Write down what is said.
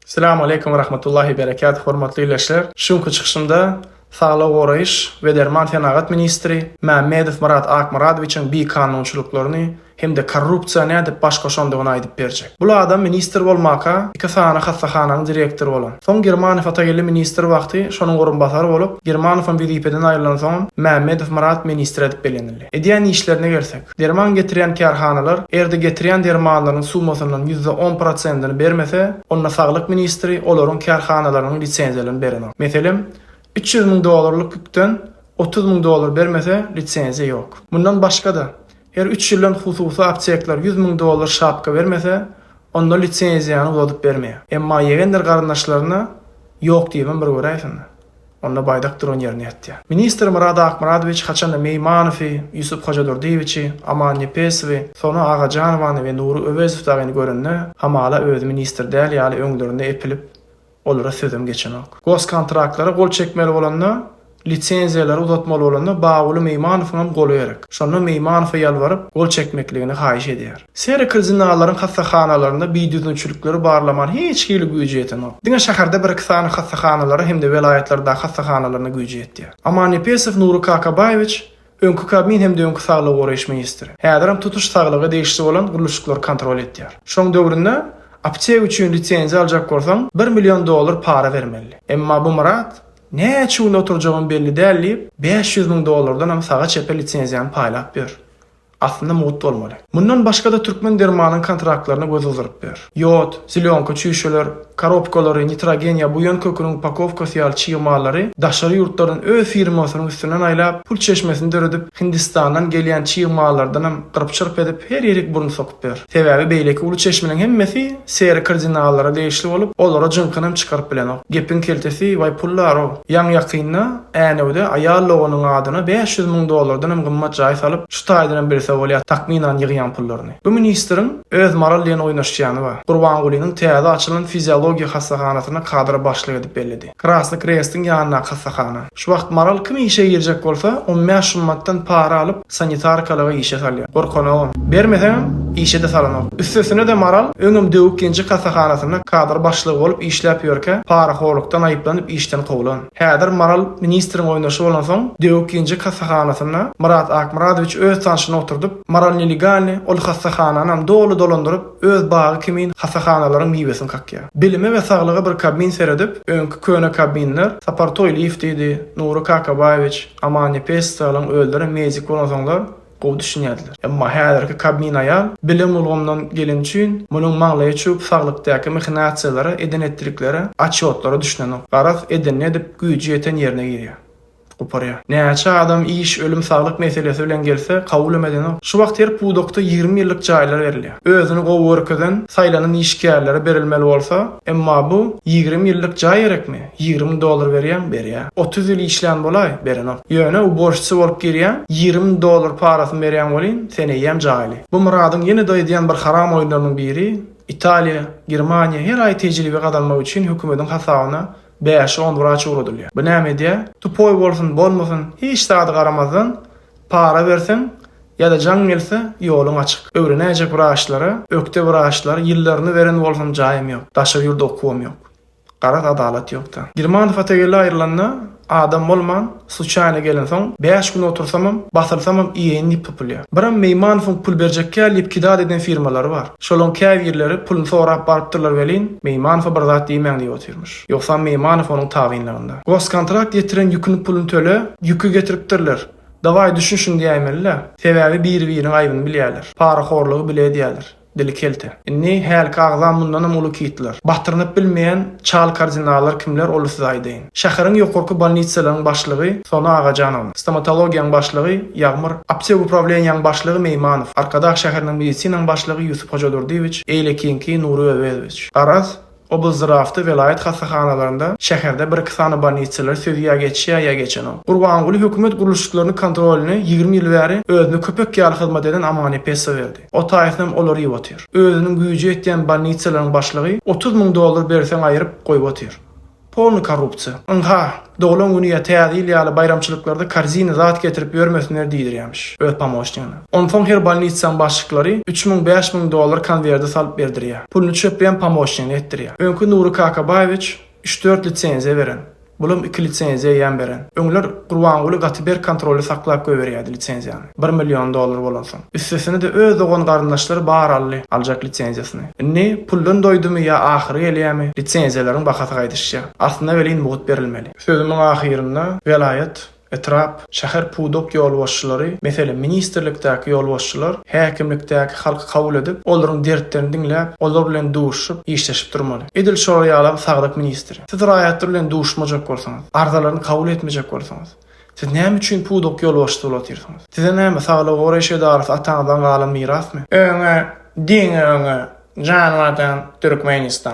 Salam aleýkum we rahmatullahi we berekatuh hormatly ildeşler! Şu günki çykyşymda Saglygy goraýyş we derman senagat ministri Mämmedow Myrat Akmyradowiçiň bikanunçylyklaryny hem-de korrupsiýa nädip baş goşandygyny aýdyp berjek. Bul adam ministr bolmaka iki sany hassahananyň direktory bolan. Soň Girmanow Atageldi ministr wagty şonuň orunbasary bolup, Girmanowam wezipeden aýrylansoňam Mämmedow Myrat ministr edip bellenildi. Edýän işlerine gelsek. Derman getirýän kärhanalar erdi getirýän dermanlaryň summasyndan ýüzde on prosentini bermese, onda saglyk ministri olaryň kärhanalarynyň lisenziýalaryny berenok. Meselem, üç ýüz müň dollarlyk ükden otuz müň dollar bermese, lisenziýa ýok. Mundan başga-da, her üç ýyldan hususy apteklar ýüz müň dollar şapka bermese, onda lisenziýany uzadyp bermeýär. Emma ýegendir garyndaşlaryna ýok diýibem bir göräýsinler. Onda baýdak duran ýerinde ýatýar. Ministr Murad Akmyradowiç haçanda Meýmanowy, Ýusup Hojadurdyýewiçi, Aman Nepesowy, Sona Agajanowany we Nury Öwezow dagyny görende, hamala özi ministr däl ýaly öňlerinde epilip, olara sözem geçenok. Goskontraklara gol çekmeli bolanda, lisenziýalary uzatmaly bolanda Baguly Meýmanowyňam goly gerek. Şonda Meýmanowa ýalbaryp, gol çekmekligini haýyş edýär. Serikli zinalaryň hassahanalarynda bidüzgünçilikleri barlamaga hiç hili güýji ýetenok. Diňe şäherde bir-iki sany hassahanalara hem-de welaýatlardaky hassahanalaryna güýji ýetýär. Amannepesow Nury Kakabaýewiç, öňki Kabmin hem-de öňki saglygy goraýyş ministri, häzirem tutuş saglyga degişli bolan gurluşyklary kontrol edýär. Şoň döwründe apteka üçin lisenziýa aljak bolsaň, bir million dollar para bermeli. Emma bu Myrat, Näçe gün oturjagym belli däl diýip, bäş ýüz müň dollardanam saga-çepe lisenziýany paýlap ýör. Aslynda mugt bolmaly. Mundan başga-da Türkmen dermanyň kontraktlaryna göz gyzyryp ber. Ýod, zelýonka çüýşeler, korobkalary, nitrogen ýa buýan köküniň upakowkasy ýaly çig mallary daşary ýurtlardan öz firmasynyň üstünden aýlap, pul çeşmesini döredip, Hindistandan gelýän çig mallardanam gyrp-çyrp edip, her ýerik burun sokup. ber. Sebäbi beýleki uly çeşminiň hemmesi Seri kardinallara degişli bolup, olara jyňkynam çykaryp bilenok. Gepiň keltesi baý pullar-ow. Ýaňy-ýakynda Änewde aýal doganyň adyna bäş ýüz müň dollardanam gymmat jaý salyp, şu taýdanam bilse bolýar takmynan ýygýan pullaryny. Bu ministriň öz maral diýen oýnaşýany bar. Gurbangulynyň täze açylan fiziologiýa hassahanasyna kadra başlyk edip belledi. Krasny Krestiň ýanyndaky hassahana. Şu wagt Maral kim işe girjek bolsa, on bäş şummatdan para alyp, sanitarkalyga işe salýar. Gorkanogam. Bermeseňem, işe-de salanok. Üstesine-de Maral öňem Döwük genjek hassahanasynda kadr başlygy bolup işläp ýörkä, parahorlukdan aýyplanyp işden kowlan. Häzir Maral ministriň oýnaşy bolansoň, Döwük genjek hassahanasynda Myrat Akmyradowiç öz tanşyny oturdyp, Maral nelegalny ol hassahananym doly dolandyryp, Öz bagy kimin hasahanalaryň miwesini kakýar. Bilime we saglyga bir kabmin seredip, öňki köne kabminler, Sapar Toýlyýew diýdi, Nury Kakabaýewiç, Amannepes Stalyň özlerem meýzik bolansoňlar, gowy düşünýärdiler. Emma häzirki kabmin aýal, bilim ulgamyndan geleni üçin, munuň maňlaýy çüwüp saglykdaky mahinasiýalara, eden-etdiliklere, atçotlara düşünenok. Garaz, edenini edip, güýji ýeten ýerine girýär. guparýar. Näçe adam iş, ölüm, saglyk meselesi bilen gelse, kabulem edenok. Şu wagt her pudakda ýigrimi ýyllyk jaýlar berilýär. Özüni gowy görkezen, saýlanan işgärlere berilmeli bolsa, emma bu, ýigrimi ýyllyk jaý gerekmi? Ýigrimi müň dollar berýäň, berýäň. Otuz ýyl işlän bolaý, berenok. Ýöne uborşçy bolup girýäň, ýigrimi müň dollar parasyny berýän welin, sen eýýäm jaýly. Bu Myradyň ýene-de edýän bir haram oýunlarynyň biri, Italiýa, Germaniýa her aý tejribe gazanmak üçin hökümediň hasabyna Bäş, on wraç ugradylýar. Bu näme edýär? Tupoý bolsun, bolmasyn, hiç zady garamazdan, para berseň, ýa-da jaň gelse, ýoluň açyk. Öwrenäýjek wraçlara, ökde wraçlar, ýyllaryny beren bolsun, jaýym ýok. Daşary ýurda okuwam ýok. Garaz, adalat ýok-da. Girmanow Atagele aýrylanda, adam bolman, Sluçaýna gelensoň, bäş gün otursamam, basylsamam iýeýin diýip pypylýar. Biram Meýmanowyň pul berjekkä diýip kidal eden firmalary bar. Şolaň käbirleri puluny sorap barypdyrlar welin, Meýmanowa bir zat diýmäň diýip otyrmyş. Ýogsam Meýmanow onuň tabynlygynda. Goskontrakt ýetiren ýüküni pulyny töle, ýüki getiripdirler. Dawaý düşün şuny diýäýmeli-dä. Sebäbi biri-biriniň aýbyny bilýärler. Parahorlugy bile edýärler. Dili kelte. Indi hälki agzam mundanam uly kitler. Batyrynyp bilmeýän çal kardinallar kimler ol size aýdaýyn. Şäheriň ýokarky bolnitsalaryň başlygy Sona Agajanowa, stomatologiýaň başlygy Ýagmyr, aptek uprawleniýaň başlygy Meýmanow, Arkadag şäheriniň medisinaň başlygy Ýusup Hojadurdyýewiç, eýlekiňki Nury Öwezowiç. Garaz, Oblzdrawda, welaýat hassahanalarynda, şäherde bir-iki sany bolnitsalar sözi ýa geçýär, ýa geçenok. Gurbanguly hökümet gurluşyklaryny kontrolyny ýigrimi ýyl bäri özüne köpek ýaly hyzmat eden Amanýepesowa berdi. O taýsynyam ol ýyp otyr. Özüniň güýji ýetýän bolnitsalaryň başlygy otuz müň dollar berseň aýyryp, goýup otyr. Polny korrupsiýa. Ynha, Doglan güni ýa Täze ýyl ýaly baýramçylyklarda korzina zat getirip ýörmesinler diýdirýämiş öz pomoçnigine. Onsoň her bolnitsaň başlyklary üç müň, bäş müň dollar konwerde salyp berdirýär. Puluny çöpleýän pomoçnigine etdirýär. Öňki Nury Kakabaýewiç üç-dört lisenziýa beren. Bulam iki lisenziýa eýýäm beren. Öňler Gurbanguly gaty berk kontrolda saklap goýberýärdi lisenziýany. Bir million dollar bolansoň. Üstesine-de öz dogan-garyndaşlary bar Ally aljak lisenziýasyny. Indi, puldan doýdumy ýa ahyry gelýämi, lisenziýalaryň bahasy gaýdyşýar. Aslynda welin mugt berilmeli. Sözümiň ahyrynda welaýat, etrap, şäher pudak ýolbaşçylary, meselem, ministrlikdäki ýolbaşçylar häkimlikdäki halky kabul edip, olaryň dertlerini diňläp, olar bilen duşuşyp, işleşip durmaly. Edil şolar ýalam saglyk ministri. Siz raýatlar bilen duşmajak bolsaňyz, arzalaryny kabul etmejek bolsaňyz, Siz näme üçin pudak ýolbaşçysy bolup otyrsyňyz? Size näme, saglygy goraýyş edarasy ataňyzdan galan mirasmy? Öňe, diňe öňe, janymardan Türkmenistan!